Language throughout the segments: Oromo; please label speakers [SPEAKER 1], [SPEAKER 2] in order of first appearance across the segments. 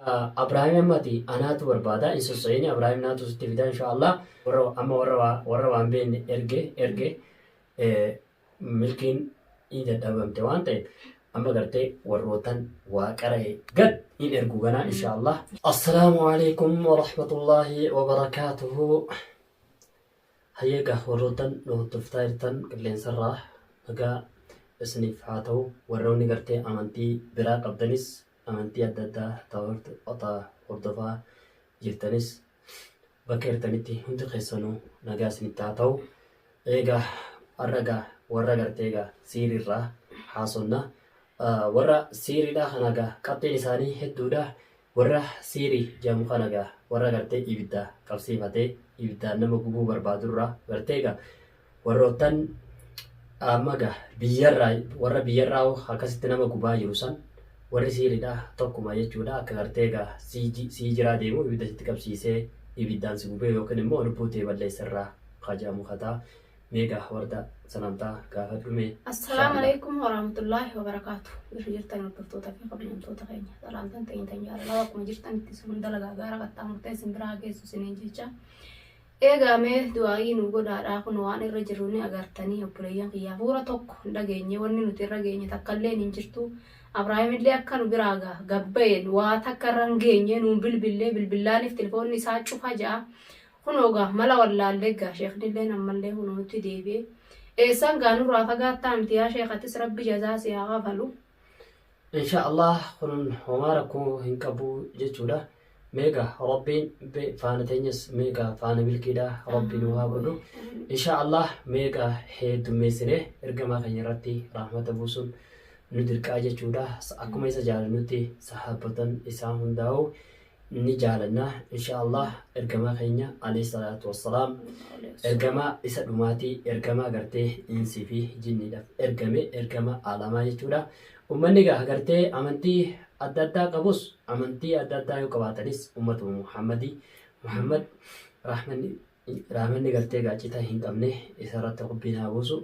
[SPEAKER 1] Abrahim amma ati anaatu barbaada hin sossayini Abrahim naatu sitti fida insha Allah warra amma warra waa- warra waan beenne erge erge eh, milkiin hin dadhabamte waan ta'eef amma gartee warrootan waa qara'e gad hin ergu ganaa insha Allah. Assalaamu alaikum wa rahmatullahi wa barakaatuhu. Hayyeega warrootan nu hordoftaa jirtan qilleensarraa nagaa isiniif haa ta'u warroonni gartee amantii biraa qabdanis amantii adda addaa ta hordofaa jirtanis bakka jirtanitti hundi keessanuu nagaa isinitti haa ta'u. Eegaa har'a egaa warra gartee egaa siiriirraa haasofna. Warra siiriidhaa kana egaa qabxiin isaanii hedduudha. Warra siirii jedhamu kana egaa warra gartee ibidda qabsiifatee ibiddaan nama gubuu barbaadurraa gartee egaa Warroottan amma ga biyyarraa warra biyyarraa hoo akkasitti nama gubaa jiru san warri siiriidha tokkuma jechuudha akka gartee ga sii ji- sii jiraa deemu ibidda sitti qabsiisee ibiddaan si gubee yookiin immoo lubbuu tee balleessarraa ka jedhamu kataa mee ga warda salaamtaa gaafadhu mee Assalaamu inshaallah. alaikum
[SPEAKER 2] warahmatullaahi wabarakaatu. Bakka jirtan hordoftoota fi kabajamtoota keenya. Salaamtan teenya tan jaalalaa bakkuma jirtan itti sun dalagaa gaara qaxxaamurtee isin biraa geessu isiniin jecha. Eegaa mee du'aa'ii nuu godhaadhaa kunoo waan irra jirru ni agartanii obboleeyyan kiyya hafuura tokko hin dhageenye wanni nuti irra geenye takka illeen hin jirtu Abraahim illee akka nu biraa ga, gad ba'een waa takka irra hin geenye nuun bilbillee bilbillaaniif tilfoonni isaa cufa ja'a kunoo ga, mala wallaallee ga sheekni illeen ammallee kunoo nutti deebi'e eessaan ga nurraa fagaattaa miti yaa sheekh atis rabbi jazaa si haa kafalu. insha
[SPEAKER 1] allah kun homaa rakkoo hin qabu jechuudha meega rabbiin faana teenyas meega faana milkiidha rabbi nu haa godhu insha allah meega heddummeessine ergamaa keenya irratti rahmata buusuun nu dirqaa jechuudha akkuma isa jaalannutti sahaabbotan isaa hundaa'u ni jaalanna insha Allah ergamaa keenya alayhi salaatu wassalaam ergamaa isa dhumaati ergamaa gartee insii fi jinniidhaaf ergame ergama alamaa jechuudha ummanni gaa gartee amantii adda addaa qabus amantii adda addaa yoo qabaatanis ummatuma Muhammadi Muhammad rahmanni rahmanni gartee gaacita hin qabne isarratti rabbiin haa buusu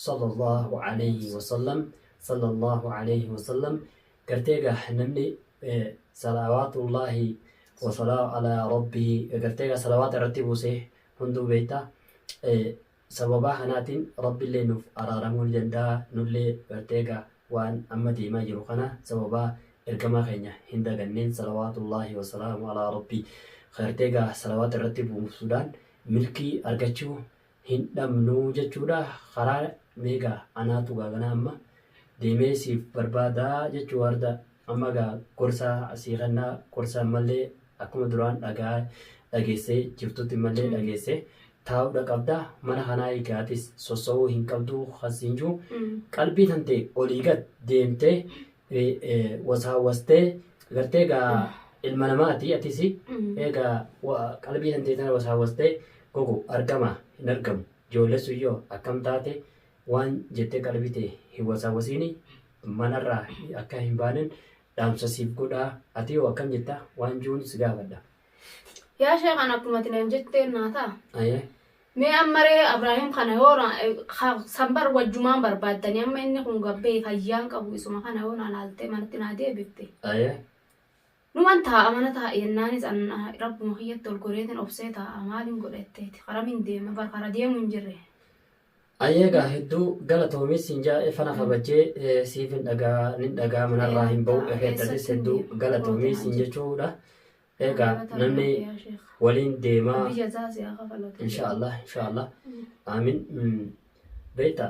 [SPEAKER 1] sallallahu alayhi wasallam sallallahu alayhi wasallam gartee egaa namni salawaatullaahi wasalaamu alaa rabbihi gartee egaa salawaata irratti buusee hunduu beekta sababaa kanaatiin rabbillee nuuf araaramuu ni danda'a nullee gartee egaa waan amma deemaa jiru kana sababaa ergamaa keenya hin daganneen salawaatullaahi wasalaamu alaa rabbii gartee egaa salawaata irratti buusuudhaan milkii argachuu hin dhabnu jechuudha karaa mee gaa anaatu gaa ganaa amma deemee siif barbaada jechuu warda amma gaa gorsaa sii kennaa gorsa ammallee akkuma duraan dhagaa dhageessee jirtutti ammallee dhageessee taa'uudha qabda mana kanaa eegaatis sossa'uu hin qabdu kan siin jiru qalbii tantee olii gad deemtee wasaawwastee gartee egaa ilma namaati atisi egaa qalbii hantee tana wasaawwastee gogo argama hin argamu joollessu yoo akkam taate waan jettee qalbii tee hin wasaawwasiini manarraa akka hin baanen dhaamsa siif godhaa ati yoo akkam jetta waan juun si gaafadha. Yaa
[SPEAKER 2] sheekan akkumati naan jetteen naa ta'a. Ayee. Mee amma ree abrahim kana yoo na ka san bar wajjumaan barbaaddani amma inni kun gabbee fayyaan qabu isuma kana yoo na laaltee manatti naa deebifte Aye. numan taa'a mana taa'a jennaanis an ah, rabbuma kiyyatti ol goreetin obsee taa'a maalin godha jetteeti karamin deema bar kara deemu hin jirre Ayyee
[SPEAKER 1] gaa hedduu galatoomii siin jaa e fana kabajjee e, siif hin dhagaa nin dhagaa manarraa hin ba'u Ee, ekeettatis keessatti hin hedduu deema. galatoomii Mootiin siin jechuudha. Eegaa namni waliin deemaa insha Allah insha Allah aamin beekta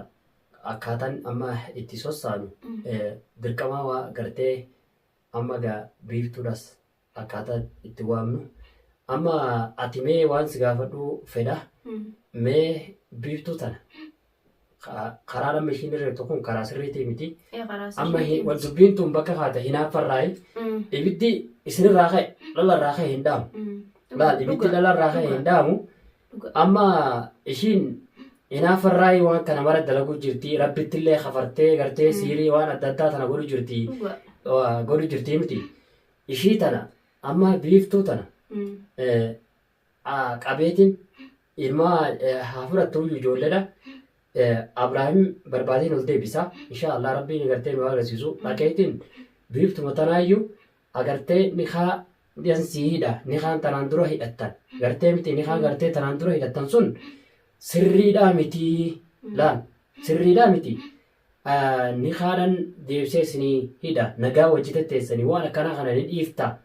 [SPEAKER 1] akkaataan amma itti sossaanu dirqamaa waa gartee amma gaa biiftuudhas akkaataa itti waamnu amma ati mee waan si gaafadhuu fedha mee biiftuu tana Ka- karaan amma ishiin irra jirtu kun karaa sirriitii miti Ee, karaa sirrii amma hin- miti. wal dubbiin tun bakka kaata hinaaffarraayi Mm, ibiddi isinirraa ka'e dhalarraa ka'e hin dhaamu mm. laal ibiddi Dhugaa, dhalarraa ka'e dhugaa, hin dhaamu dhugaa. amma ishiin hinaaffarraayi waan kana mara dalaguu jirti rabbittillee kafartee gartee siirii waan adda addaa tana godhu jirti Dhugaa. waa godhu jirti miti ishii tana amma biiftuu tana Mm, eh, qabeetiin ilma haa fudhattuuyyu ijoolleedha. Abraahim barbaadeen ol deebisa. Inshaa Allah rabbiin agartee nu agarsiisu. Dhaqeetiin biiftuma tanaayyu agartee nikaa dhiyan sii hidha. Nikaan tanaan dura hidhattan. Gartee miti nikaan gartee tanaan dura hidhattan sun sirriidhaa miti. Laal sirriidhaa miti. Nikaadhan deebisee isinii hidha. Nagaa wajji tetteessanii waan akkanaa kana ni dhiifta.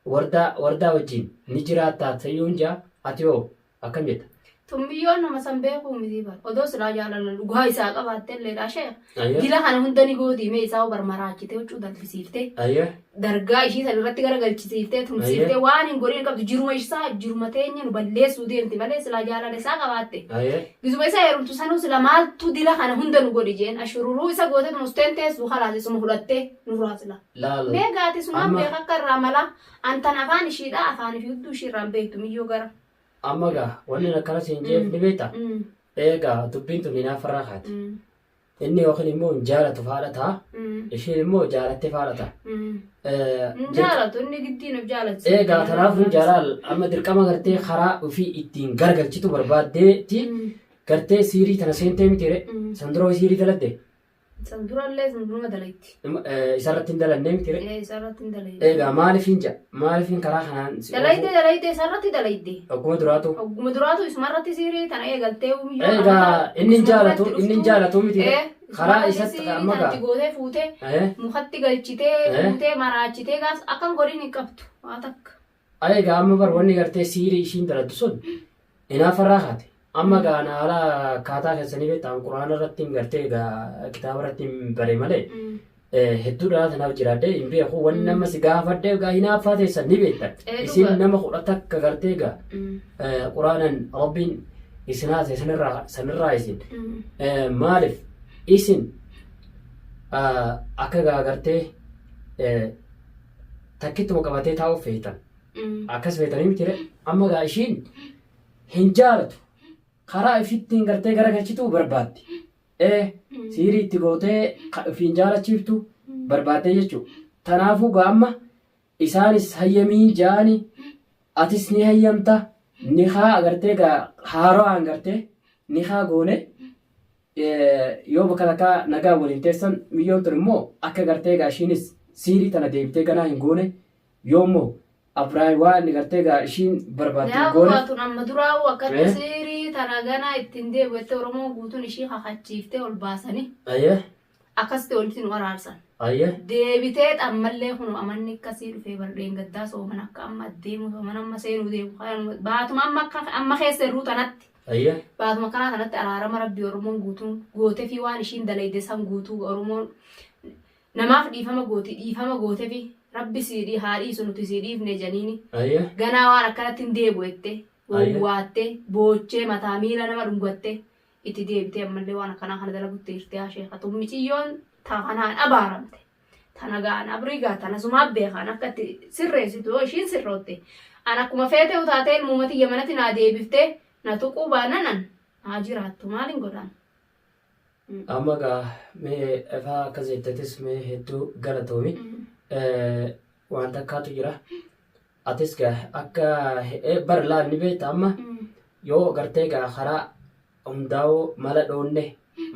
[SPEAKER 1] Wardaa wardaa wajjiin ni jiraattaa tayuun jaa ati hoo akkam jetta. Tun biyyoon nama
[SPEAKER 2] san beekuu mitii bar odoo silaa jaalala dhugaa isaa qabaattelleedhaa sheekh Ayyee. dila kana hunda ni gootii mee isaa bar maraachitee huccuu dalbisiiftee Ayyee. dargaa ishii san irratti gara galchisiiftee tumsiiftee waan hin godhin hin qabdu jiruma isaa jiruma teenya nu balleessuu deemti malee silaa jaalala isaa qabaatte Ayyee. gizuma isa heerumtu sanuu sila maaltu dila kana hunda nu godhi jeen ashururuu isa gootet musteen teessu kalaas isuma hudhattee nurraa sila Laal. Mee gaati sumaan Amma- beeka akka irraa malaa. An tan afaan ishiidha afaan fi hudduu ishii irraan beektu miyyoo gara. Amma gaa
[SPEAKER 1] wanni akkana siin jeef ni beekta. Mm, Eegaa dubbiin tun hinaaffarraa kaati. mm, Inni yookiin immoo hin jaalatu faadha ta'a. mm, Ishiin immoo jaalattee faadha ta'a. mm. Eh, Hin
[SPEAKER 2] jaalatu inni giddiin of jaalachisa. Eegaa kanaafuu jaalaal
[SPEAKER 1] amma dirqama gartee karaa ofii ittiin gargalchitu barbaaddeeti Mm, gartee siirii tana seentee mitiire mm, san dura ho'i siirii dalagde San durallee
[SPEAKER 2] sun numa dalayti. Isarratti hin
[SPEAKER 1] dalannee miti ree? Ee isarratti hin dalayne.
[SPEAKER 2] Eegaa maalifiin ja'a?
[SPEAKER 1] Maalifiin karaa kanaan si Dalayde dalayde isarratti
[SPEAKER 2] dalayde. Ogguma duraatu. Ogguma
[SPEAKER 1] duraatu isumarratti
[SPEAKER 2] sirii tana eegaltee umiyyuu. Eegaa
[SPEAKER 1] inni hin jaalatu inni hin jaalatu miti ree? Karaa isatti amma gaa. Tanatti gootee fuutee
[SPEAKER 2] mukatti galchitee fuutee maraachitee gaas akkan godhin hin qabdu waa takka. Ayi egaa amma bar
[SPEAKER 1] wanni gartee siirii ishiin daladdu sun inaafa irraa kaate. Amma egaa ana haala akkaataa keessanii beektaan quraana irratti hin gartee egaa kitaaba irratti hin bare malee eh, hedduu dhalaa tanaaf jiraadhee hin beeku wanni nama si gaafadhe egaa hinaaffaa teessan ni beektan. Eh, Isin dhuga. nama kudha takka gartee egaa eh, quraanan rabbiin isin haase sanirraa sanirraa isin Eh, maaliif isin ah, akka egaa gartee eh, takkittuma qabatee taa'uuf feetan. Akkas feetanii mitire amma gaa ishiin hin jaalatu. Karaa ishittiin gartee gara galchituu barbaaddi. Ee siirii itti gootee ka ofiin jaalachiiftu barbaaddee jechuu. Tanaafuu gaa amma isaanis hayyamiin jaani atis ni hayyamta nikaa agartee gaa haaraan gartee nikaa goone Yoo bakalakaa nagaan waliin teessan miyyoon tun immoo akka gartee egaa ishiinis siirii tana deebitee ganaa hin goone yoo immoo Abraay waa inni gartee egaa ishiin barbaaddu hin Yaaba goone. baatun amma duraa'uu
[SPEAKER 2] akkatti Ee. siirii tana ganaa ittiin deebi'u jettee Oromoon guutuun ishii kakachiiftee ol baasanii Ayyee akkasitti walitti nu araarsan. ayyee Deebitee xammallee kun amanni akkasii dhufee bar dheengaddaa sooman akka amma deemu sooman amma seenuu deemu kanuma baatuma amma akka amma keessa irruu tanatti Ayyee. Baatuma kanaa kanatti araarama rabbii oromoon guutuun gootefii waan ishiin dalayde san guutuu oromoon Namaaf dhiifama gooti dhiifama gootefi rabbi sii haa dhiisu nuti sii dhiifne janiini Ayyee. ganaa waan akkanatti hin deebu ette wowwaatte boochee mataa miila nama dhungatte itti deebitee ammallee waan akkanaa kana dalagutti jirti yaa sheekha tun miciyyoon ta kanaan abaaramte. Tana gaa an abrii gaa tana sumaa beekaan akka itti sirreessitu yoo ishiin sirrootte an akkuma feetee utaatee ilmuma tiyya manatti naa deebiftee na tuquu baannan an haa jiraattu maalin godhaan.
[SPEAKER 1] Amma gaa mee efaa akkas jettetis mee hedduu galatoomi waan takkaatu jira atis gaa akka bar laal ni beekta amma yoo gartee gaa karaa hundaa'uu mala dhoonne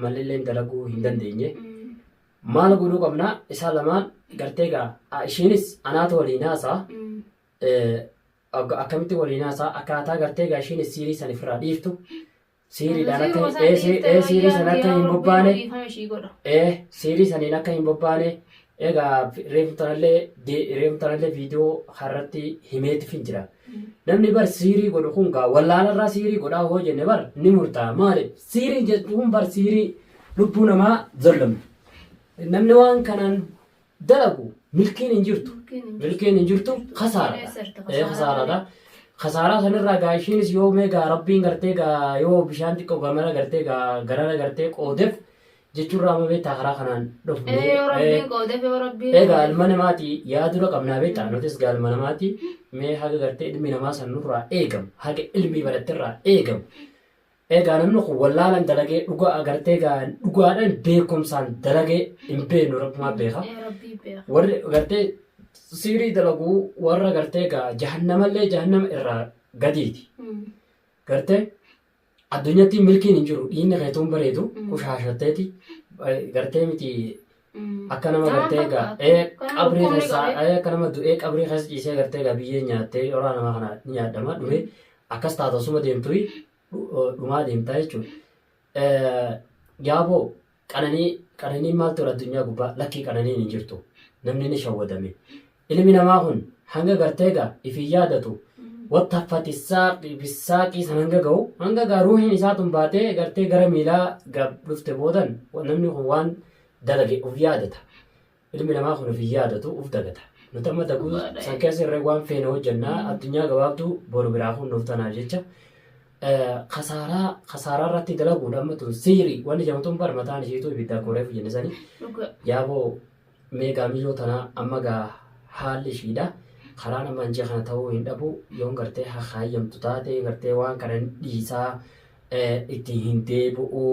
[SPEAKER 1] mallilleen dalaguu hin dandeenye Maal godhuu qabna isaan lamaan gartee gaa a- ishiinis anaatu waliin haasaa Mm. eh, akka- akkamitti waliin haasaa akkaataa gartee gaa ishiinis siirii san ofirraa dhiiftu siiriidhaan Siiruma akka san ee, si- dhiiftee ee, siirii wayyaa san akka yaa hin Rabbii bobbaane yoo dhiifame ishii godha. ee siirii saniin akka hin bobbaane egaa reefumtanallee reefumtanallee viidiyoo harratti himeetifin jira Namni bar siirii godhu kun gaa wallaalarraa siirii godhaa hoo jenne bar ni murtaa'a maaliif siirii jedhu kun bar siirii lubbuu namaa zollomu. Namni waan kanaan dalagu milkiin hin jirtu. Milkiin hin jirtu kasaaradha. Kasaaradha. Kasaaraa sanirraa gaa ishiinis yoo mee gaa rabbiin gartee gaa yoo bishaan xiqqoo gamana gartee gaa garana gartee qoodeef jechuun raama beektaa karaa kanaan dhufne. Ee yoo rabbiin qoodeef yoo rabbiin. Egaa ilma namaati yaa dura qabnaa beektaa nutis gaa ilma namaati mee haga gartee ilmi namaa san nurraa eegamu haga ilmii baratterraa eegamu. Egaa namni kun wallaalan dalagee dhugaa agartee gaa dhugaadhaan beekumsaan dalagee hin beeknu rabbumaa beeka. Ee rabbii beeka. Warri gartee siirii dalaguu warra gartee gaa jahannamallee jahannama irraa gadiiti. Gartee Addunyatti milkiin hin jiru dhiinni keetuun bareedu qushaashatteeti gartee miti akka nama gartee egaa ee qabrii keessaa ee akka nama du'ee qabrii keessa ciisee gartee egaa biyyeen nyaattee horaa namaa kana ni nyaadhama dhume akkas taata osuma deemtuyi dhumaa deemtaa jechuudha. Yaaboo Qananii qananiin maal tola addunyaa gubbaa lakkii qananiin hin jirtu namni ni shawwadame ilmi namaa kun hanga gartee gaa ifiin yaadatu wanta fatisaaqi bisaaqii san hanga ga'u hanga gaa ruuhiin isaa tun baatee gartee gara miilaa gaa dhufte boodan namni kun waan dalage of yaadata Ilmi namaa kun of hin yaadatu, uf dagata. Nuti amma daguu Dhugaa dha'e. san keessa irra waan feene hojjannaa addunyaa gabaabduu boru biraa kunnuuf tanaaf jecha eh, kasaaraa kasaaraa irratti dalaguudha amma tun siiri wanni jamtun bar mataan ishiitu ibidda akkuma reefu jenne sani Dhugaa. yaaboo meegaa miiloo tanaa amma gaa haalli ishiidha karaan amma anjii kana ta'uu hin dhabu yoon gartee hakaayamtu taate gartee waan kana hin dhiisaa eh, itti hin deebi'u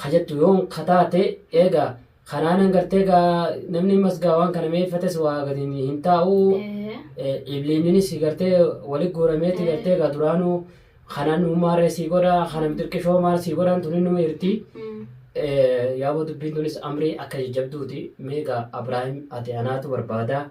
[SPEAKER 1] hajattu yoon kataate eegaa Kanaanan gartee gaa namni ammas gaa waan kana meeffates waa gadi hin- hin taa'u. Ee. Eh, Ibliinninis gartee walitti guurameeti gartee gaa duraanuu kanaan uummaarree sii godha kanam xirqishoo maal sii godhan tun innuma irti. Mm. Eh, Yaaboo dubbiin tunis amrii akka jajjabduuti mee gaa Abiraahim ati anaatu barbaada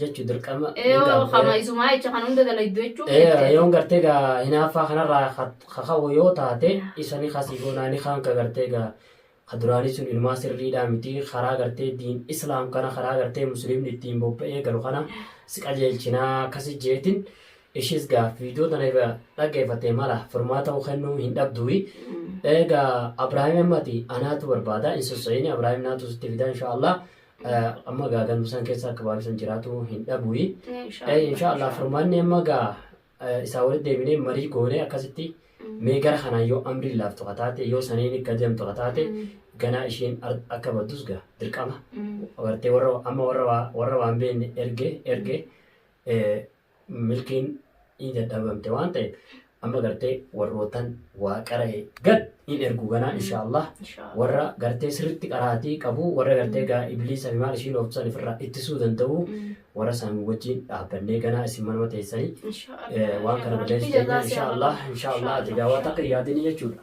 [SPEAKER 1] jechu dirqama Yoo kama isumaa jecha kan hunda dalagdu jechuun beekte. yoon gartee gaa hinaaffaa kanarraa kaka'u yoo taate isani kasii goonaani kan ka gartee gaa ka duraanii sun inumaa sirriidhaa miti karaa gartee diin islaam kana karaa gartee musliimni ittiin bobba'ee galu kana si qajeelchinaa akkasi jeetin ishiis gaa viidiyoo tana irra dhaggeeffattee mala furmaata ta'uu kennuu hin dhabduwi egaa abraahim ammati anaatu barbaada hin sosso'ini abraahim naatu sitti fida inshaallah amma gaa gandusan keessa akka baay'isan jiraatu hin dhabuyi. Inshaallah furmaanni amma gaa isaa walitti deebinee marii goonee akkasitti mee gara kanaa yoo amriin laaftu ka taate yoo saniin akka deemtu ka taate ganaa isheen akka baddus gaa dirqama. Agartee warra amma warra warra waan beekne erge erge milkiin in dadhabamte waan ta'e amma gartee warrootan waa qara'e gad in ergu ganaa mm. insha Allah warra gartee sirritti qaraatii qabu warra mm. gartee gaa ibliisa fi maal ishii loofsan ifirraa ittisuu danda'u mm. warra isaan wajjin dhaabbannee ganaa isin manuma teessanii eh, waan kana balleessu insha Allah insha Allah ati gaawaa takka yaadinii jechuudha.